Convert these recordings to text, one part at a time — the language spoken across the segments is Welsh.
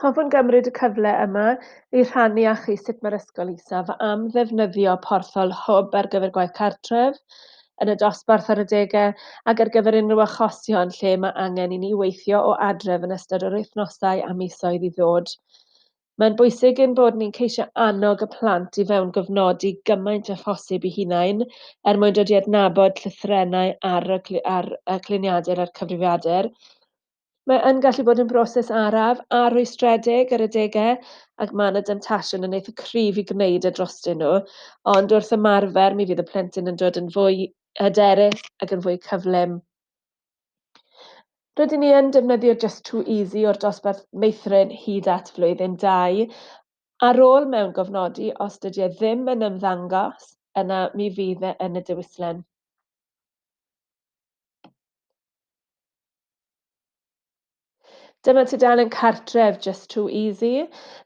Hoffwn gymryd y cyfle yma i rhannu â chi sut mae'r Ysgol Isaf am ddefnyddio porthol Hwb ar gyfer gwaith cartref, yn y dosbarth ar adegau, ac ar gyfer unrhyw achosion lle mae angen i ni weithio o adref yn ystod yr wythnosau a misoedd i ddod. Mae'n bwysig ein bod ni'n ceisio annog y plant i fewngofnodi gymaint â phosib i hunain er mwyn dod i adnabod llythrennau ar y cl- ar y cluniadur a'r cyfrifiadur, Mae yn gallu bod yn broses araf a rhwystredig ar adegau ac mae yna demtasiwn yn eitha cryf i gwneud e drostyn nhw, ond wrth ymarfer mi fydd y plentyn yn dod yn fwy hyderus ac yn fwy cyflym. Rydyn ni yn defnyddio Just Too Easy o'r dosbarth meithrin hyd at flwyddyn dau. Ar ôl mewn gofnodi, os dydy e ddim yn ymddangos, yna mi fydd e yn y diwyslen. Dyma tudalen cartref Just Too Easy.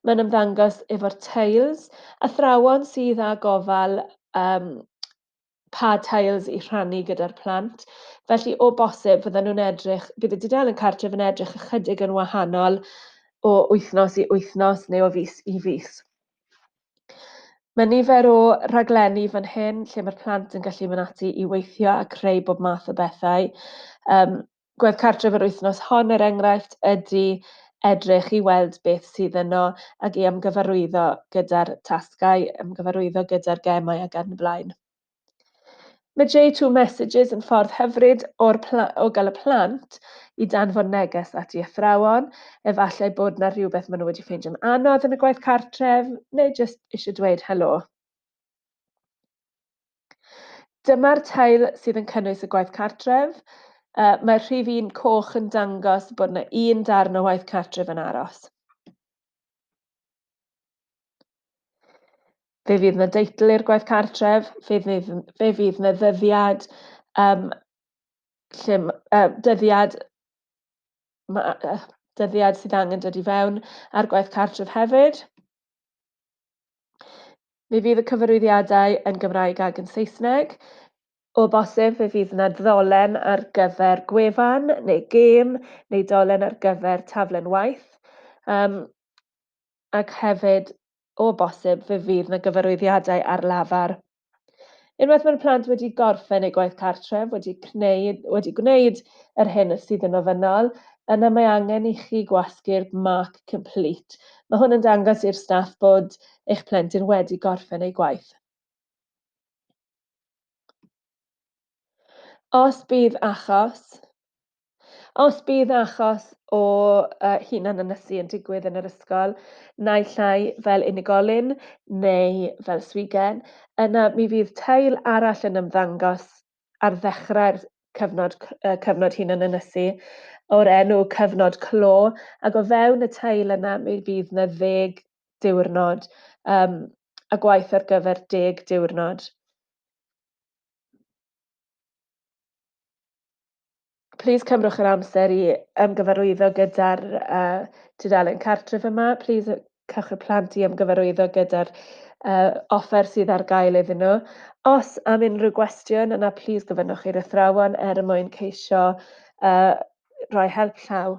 Mae'n ymddangos efo'r tiles, athrawon sydd â gofal um, pa tiles i rhannu gyda'r plant. Felly, o bosib, fydden nhw'n edrych, bydd y dudalen cartref yn edrych ychydig yn wahanol o wythnos i wythnos neu o fus i fus. Mae nifer o raglenni fan hyn lle mae'r plant yn gallu mynd ati i weithio a creu bob math o bethau. Um, gwedd cartref yr wythnos hon, er enghraifft, ydy edrych i weld beth sydd yno ac i ymgyfarwyddo gyda'r tasgau, ymgyfarwyddo gyda'r gemau ac yn y blaen. Mae J2 Messages yn ffordd hyfryd o'r o gael y plant i danfon neges at i athrawon, efallai bod na rhywbeth maen nhw wedi ffeindio'n anodd yn y gwaith cartref, neu jyst eisiau dweud helo. Dyma'r tail sydd yn cynnwys y gwaith cartref. Uh, mae'r rhif un coch yn dangos bod yna un darn o waith cartref yn aros. Fe fydd 'na deitl i'r gwaith cartref, fe fydd, fe fydd 'na ddyddiad um, lle, uh, dyddiad, ma, uh, dyddiad sydd angen dod i fewn ar gwaith cartref hefyd. Fe fydd y cyfarwyddiadau yn Gymraeg ac yn Saesneg. O bosib, fe fydd yna ddolen ar gyfer gwefan neu gêm neu dolen ar gyfer taflen waith. Um, ac hefyd, o bosib, fe fydd 'na gyfarwyddiadau ar lafar. Unwaith mae'r plant wedi gorffen eu gwaith cartref, wedi gwneud, wedi gwneud yr hyn sydd yn ofynnol, yna mae angen i chi gwasgu'r mark complete. Mae hwn yn dangos i'r staff bod eich plentyn wedi gorffen ei gwaith. Os bydd achos, os bydd achos o uh, hunan ynysu yn digwydd yn yr ysgol, naill ai fel unigolyn neu fel swigen, yna mi fydd teil arall yn ymddangos ar ddechrau'r cyfnod, uh, cyfnod hunan ynysu o'r enw cyfnod clo, ac o fewn y teil yna mi fydd yna ddeg diwrnod um, a gwaith ar gyfer deg diwrnod. Plis cymrwch yr amser i ymgyfarwyddo gyda'r uh, tudalen cartref yma. Plis cewch y plant i ymgyfarwyddo gyda'r uh, offer sydd ar gael iddyn nhw. Os am unrhyw gwestiwn yna, plis gofynnwch i'r athrawon er mwyn ceisio uh, rhoi help llaw.